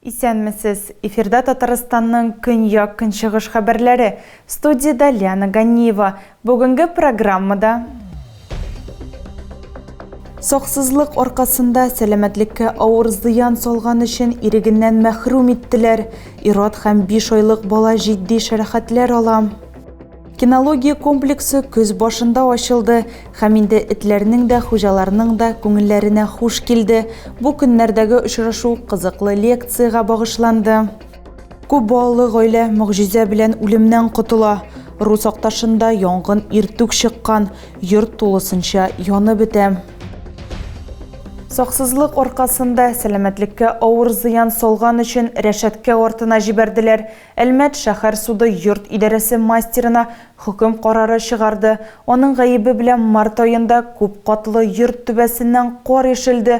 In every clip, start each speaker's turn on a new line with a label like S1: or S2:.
S1: Исәнмесез! Эфирда Татарстанның көньяк-көнчыгыш хәбәрләре. Студиядә Лиана Ганиева. Бүгенге программада Саксызлык аркасында сәламәтлеккә авыр зыян салган өчен ирегеннән мәхрүм иттеләр. Ират һәм 5 айлык бала җитди шәрәхәтләр ала. Кинология комплексы көз башында ачылды һәм инде этләрнең дә, хуҗаларның да күңелләренә хуш килде. Бу көннәрдәге очрашу кызыклы лекциягә багышланды. Күп балалы гаилә могҗизә белән үлемнән котыла. Рус Акташында янгын иртүк чыккан, йорт тулысынча янып бетә. Саксызлык аркасында сәламәтлеккә авыр зыян салган өчен рәшәткә артына җибәрделәр. Әлмәт шәһәр суды йорт идарәсе мастерына хөкем карары чыгарды. Аның гаебе белән март аенда күп катлы йорт түбәсеннән кар ишелде,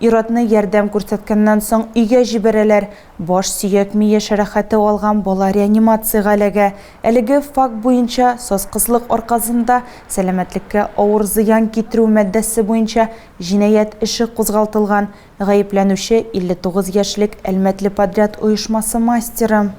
S1: Ир-атны ярдәм күрсәткәннән соң өйгә җибәрәләр. Баш сөяк-ми яшәрәхәте алган бала реанимациягә эләгә. Әлеге факт буенча сазкызлык аркасында сәламәтлеккә авыр зыян китерү маддәсе буенча җинаять эше кузгалтылган. Гаепләнүче, 59 яшьлек Әлмәтле подряд оешмасы мастеры.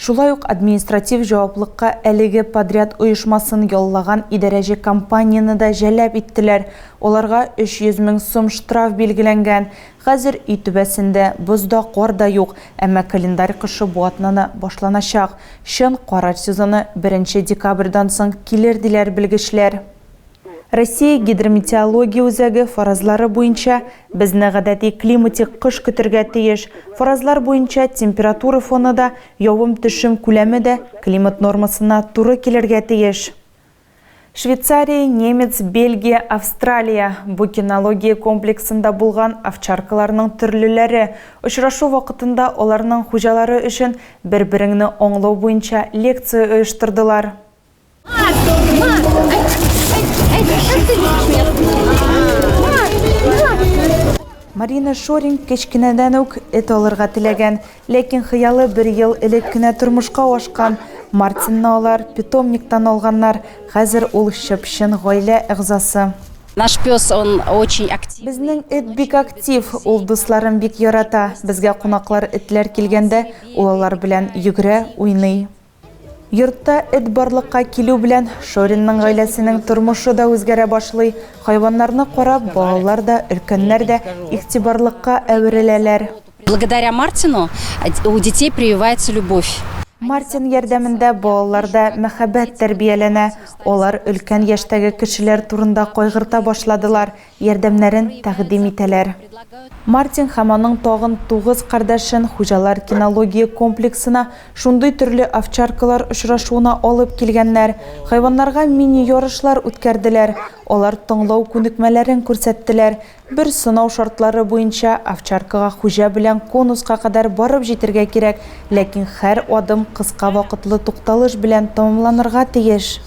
S1: Шулай ук административ җаваплыкка әлеге подряд оешмасын яллаган идарәче компанияне дә җәлап иттеләр, аларга 300 мең сум штраф билгеләнгән. Хәзер өй түбәсендә боз да, кар да юк, әмма календарь кышы бу атнаны башланачак. Чын кар сезоны беренче декабрьдан соң килер, диләр белгечләр. Россия Гидрометеология үзәге фаразлары буенча, безне гадәти климатик кыш көтергә тиеш. Фаразлар буенча, температура фоны да, явым-төшем күләме дә климат нормасына туры килергә тиеш. Швейцария, немец, Бельгия, Австралия, бу кинология комплексында булган овчаркаларның төрлеләре. Очрашу вакытында аларның хуҗалары өчен бер-береңне аңлау буенча лекция оештырдылар. Марина Шорин кечкенәдән үк эт алырга теләгән, ләкин хыялы бер ел элек кенә тормышка ашкан. Мартинны алар питомниктан алганнар, хәзер ул чып-чын гаилә әгъзасы. Наш пес,
S2: он очень актив. Безнең эт бик
S1: актив, ул дусларын бик ярата. Безгә кунаклар этләр килгәндә, ул алар белән йөгерә, уйный. Йортта эт барлыкка килү белән, Шоринның гаиләсенең тормышы да үзгәрә башлый. Хайваннарны карап, балалар да, өлкәннәр дә игътибарлыкка әвереләләр. Благодаря
S2: Мартину у детей прививается любовь. Мартин
S1: ярдәмендә балаларда мәхәббәт тәрбияләнә. Алар өлкән яшьтәге кешеләр турында кайгырта башладылар, ярдәмнәрен тәкъдим итәләр. Мартин һәм аның тагын тугыз кардәшен хуҗалар кинология комплексына шундый төрле овчаркалар очрашуына алып килгәннәр, хайваннарга мини-ярышлар үткәрделәр, алар тыңлау күнекмәләрен күрсәттеләр, бер сынау шартлары буенча овчаркага хуҗа белән конуска кадәр барып җитәргә кирәк, ләкин һәр адым кыска вакытлы тукталыш белән тәмамланырга тиеш.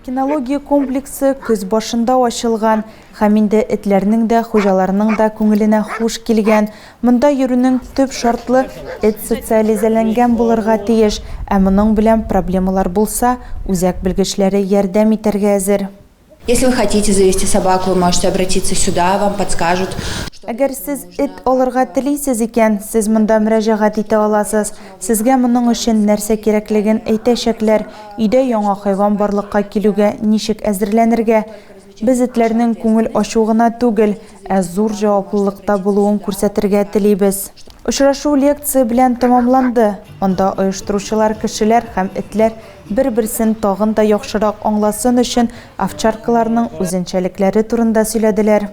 S1: Кинология комплексы көз башында ачылган, һәм инде этләрнең дә, хуҗаларның да күңеленә хуш килгән. Монда йөрүнең төп шартлы эт социализәләнгән булырга тиеш, ә моның белән проблемалар булса, үзәк белгечләре ярдәм итәргә әзер. Если вы хотите
S3: завести собаку, вы можете обратиться сюда, вам подскажут. Әгәр сез
S1: эт алырга телисез икән, сез монда мөрәҗәгать итә аласыз. Сезгә моның өчен нәрсә кирәклеген әйтәчәкләр, өйдә яңа хайван барлыкка килүгә ничек әзерләнергә. Без этләрнең күңел ачу гына түгел, ә зур җаваплылыкта булуын күрсәтергә телибез. Очрашу лекция белән тәмамланды. Монда оештыручылар кешеләр һәм этләр Бер-берсен тагын да яхшырак аңласын өчен овчаркаларның үзенчәлекләре турында сөйләделәр.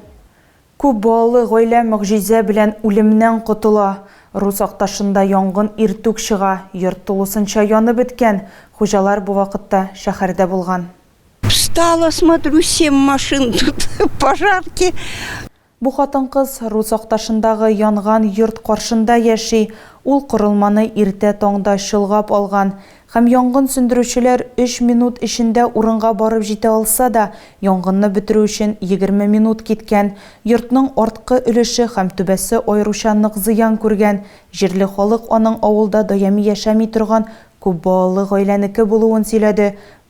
S1: Күп балалы гаилә могҗизә белән үлемнән котыла. Рус Акташында янгын иртүк чыга, йорт тулысынча янып беткән, хуҗалар бу вакытта шәһәрдә булган. Встала,
S4: смотрю, семь машин тут, пожарки. Бу
S1: хатын-кыз Рус Акташындагы янган йорт каршында яши, ул корылманы иртә таңда чолгап алган һәм янгын сүндерүчеләр өч минут эчендә урынга барып җитә алса да, янгынны бетерү өчен егерме минут киткән. Йортның арткы өлеше һәм түбәсе аеруча нык зыян күргән. Җирле халык аның авылда даими яшәми торган күп балалы гаиләнеке булуын сөйләде.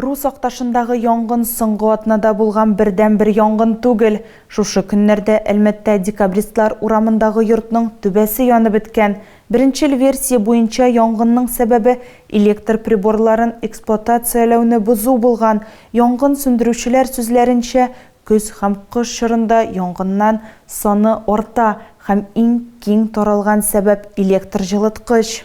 S4: Рус
S1: Акташындагы янгын соңгы атнада булган бердәнбер янгын түгел. Шушы көннәрдә Әлмәттә Декабристлар урамындагы йортның түбәсе янып беткән. Беренчел версия буенча янгынның сәбәбе электр приборларын эксплуатацияләүне бозу булган. Янгын сүндерүчеләр сүзләренчә, көз һәм кыш чорында янгыннан саны арта һәм иң киң таралган сәбәп электр җылыткыч.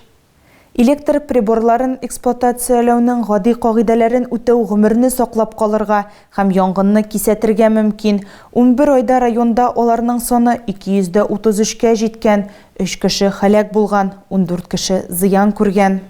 S1: Электр приборларын эксплуатацияләүнең гади кагыйдәләрен үтәү гомерне саклап калырга һәм янгынны кисәтергә мөмкин. Унбер айда районда аларның саны 233 кә җиткән, өч кеше һәлак булган, ундүрт кеше зыян күргән.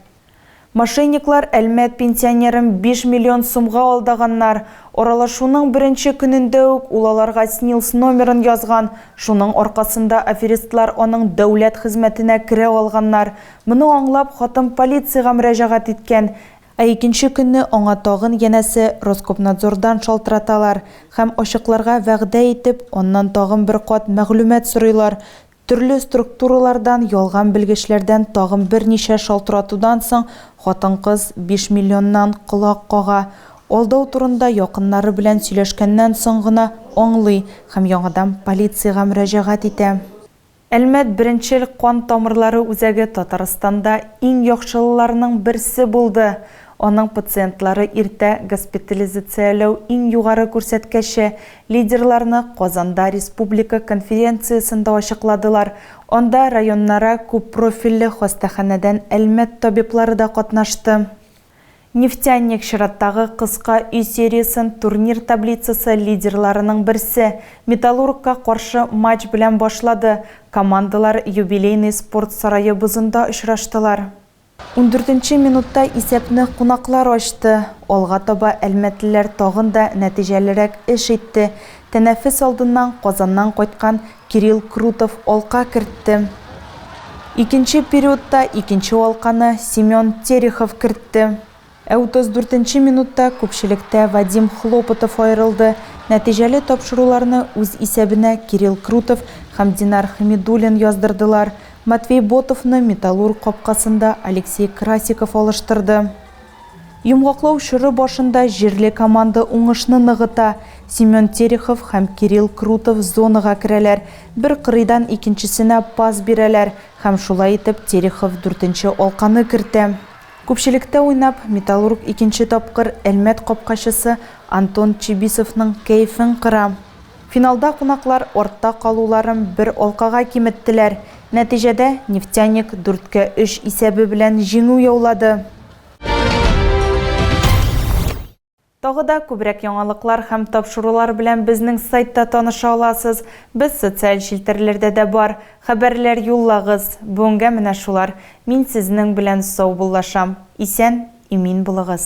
S1: Мошенниклар Әлмәт пенсионерын биш миллион сумга алдаганнар. Аралашуның беренче көнендә үк ул аларга СНИЛС номерын язган, шуның аркасында аферистлар аның дәүләт хезмәтенә керә алганнар. Моны аңлап, хатын полициягә мөрәҗәгать иткән. Ә икенче көнне аңа тагын янәсе Роскомнадзордан шалтыраталар һәм ачыкларга вәгъдә итеп, аннан тагын бер кат мәгълүмат сорыйлар. Төрле структуралардан ялган белгечләрдән тагын берничә шалтыратудан соң, хатын-кыз биш миллионнан колак кага. Алдау турында якыннары белән сөйләшкәннән соң гына аңлый һәм яңадан полициягә мөрәҗәгать итә. Әлмәт беренчел кан тамырлары үзәге Татарстанда иң яхшылыларның берсе булды. Аның пациентлары иртә госпитализацияләү иң югары күрсәткәче, лидерларны Казанда республика конференциясендә ачыкладылар. Анда районнара күппрофильле хастаханәдән Әлмәт табиблары да катнашты. Нефтяник чираттагы кыска өй сериясен турнир таблицасы лидерларының берсе, Металлургка каршы матч белән башлады, командалар юбилейный спорт сарае бозында очраштылар. Ундүртенче минутта исәпне кунаклар ачты. Алга таба әлмәтлеләр тагын да нәтиҗәлерәк эш итте. Тәнәфес алдыннан Казаннан кайткан Кирилл Крутов алка кертте. Икенче периодта икенче алканы Семен Терехов кертте. Ә 34 нче минутта күпчелектә Вадим Хлопотов аерылды. Нәтиҗәле тапшыруларны үз исәбенә Кирилл Крутов һәм Динар Хәмидуллин яздырдылар. Матвей Ботовны Металлург капкасында Алексей Красиков алыштырды. Йомгаклау чоры башында җирле команда уңышны ныгыта. Семен Терехов һәм Кирилл Крутов зонага керәләр, бер кырыйдан икенчесенә пас бирәләр һәм шулай итеп Терехов дүртенче алканы кертә. Күпчелектә уйнап, Металлург икенче тапкыр Әлмәт капкачысы Антон Чибисовның кәефен кыра. Финалда кунаклар артта калуларын бер алкага киметтеләр, нәтиҗәдә Нефтяник дүрткә өч исәбе белән җиңү яулады. Тагы да күбрәк яңалыклар һәм тапшырулар белән безнең сайтта таныша аласыз. Без социаль челтәрләрдә дә бар. Хәбәрләр юллагыз. Бүгенгә менә шулар. Мин сезнең белән саубуллашам. Исән, имин булыгыз.